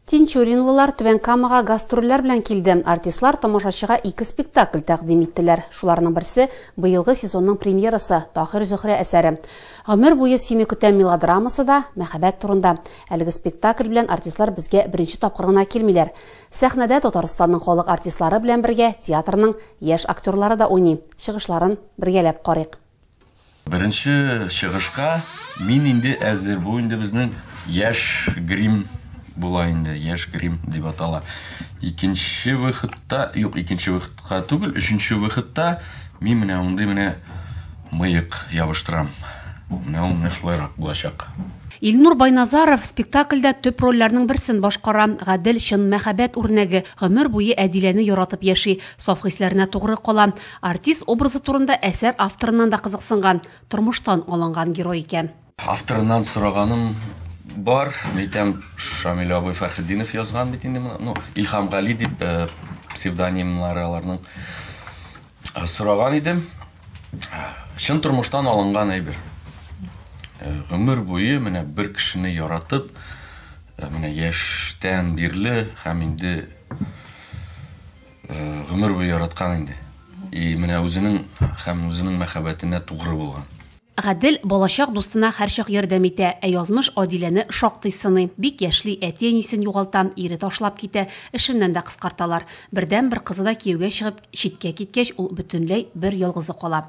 Тинчуринлылар Түбән Камага гастрольләр белән килде. Артистлар тамашачыга ике спектакль тәкъдим иттеләр. Шуларның берсе быелгы сезонның премьерасы Тахир Зөхрә әсәре. Гомер буе сине көтәм мелодрамасы да мәхәббәт турында. Әлеге спектакль белән артистлар безгә беренче тапкыр гына килмиләр. Сәхнәдә Татарстанның халык артистлары белән бергә театрның яшь актерлары да уйный. Чыгышларын бергәләп карыйк. Беренче чыгышка мин инде әзер. Бу инде безнең яшь грим була инде, яшь грим дип атала. Икенче выходта, юк, икенче выходка түгел, өченче выходта мин менә мондый менә мыек ябыштырам. Менә ул менә шулайрак булачак. Илнур Байназаров спектакльдә төп рольләрнең берсен башкара. Гадел чын мәхәббәт үрнәге, гомер буе Әдиләне яратып яши, саф хисләренә тугры кала. Артист образы турында әсәр авторыннан да кызыксынган, тормыштан алынган герой икән. Авторыннан сораганым бар, әйтәм, Шамил абый Фәрхетдинов язган бит инде моны, ну, Илһам Гали дип псевдонимнары аларның. Сораган идем, чын тормыштан алынган әйбер. Гомер буе менә бер кешене яратып, менә яшьтән бирле һәм инде Гомер буе яраткан инде. И менә үзенең һәм үзенең мәхәббәтенә тугры булган. Гадел балачак дустына һәрчак ярдәм итә, ә язмыш Адиләне шактый сыный. Бик яшьли, әти-әнисен югалта, ире ташлап китә, эшеннән дә кыскарталар. Бердәнбер кызы да кияүгә чыгып, читкә киткәч, ул бөтенләй бер ялгызы кала.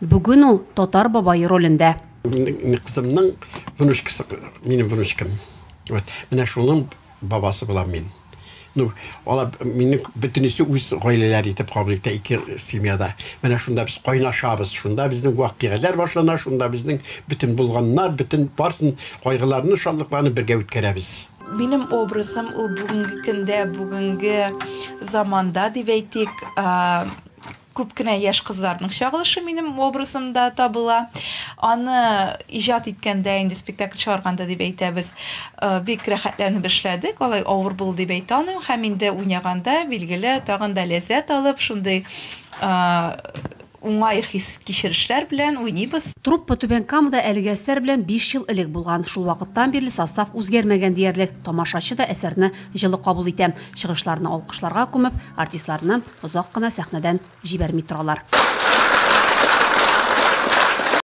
Бүген ул татар бабай ролендә. Кызымның внучкасы, минем внучкам. Вот. Менә шуның бабасы булам мин. Ну, алар мине бөтенесе үз гаиләләре итеп кабул итә ике семьяда. Менә шунда без кайнашабыз, шунда безнең вакыйгалар башлана, шунда безнең бөтен булганнар, бөтен барсын кайгыларны, шатлыкларны бергә үткәрәбез. Минем образым ул бүгенге көндә, бүгенге заманда дип әйтик, Күп кенә яшь кызларның чагылышы минем образымда табыла. Аны иҗат иткәндә, инде спектакль чыгарганда дип әйтәбез, бик рәхәтләнеп эшләдек. Алай авыр булды дип әйтә алмыйм. Һәм инде уйнаганда, билгеле, тагын да ләззәт алып, шундый уңай хис-кичерешләр белән уйныйбыз. Труппа Түбән Камада әлеге әсәр белән биш ел элек булган. Шул вакыттан бирле состав үзгәрмәгән диярлек. Тамашачы да әсәрне җылы кабул итә. Чыгышларны алкышларга күмеп, артистларны Озак кына сәхнәдән җибәрми торалар.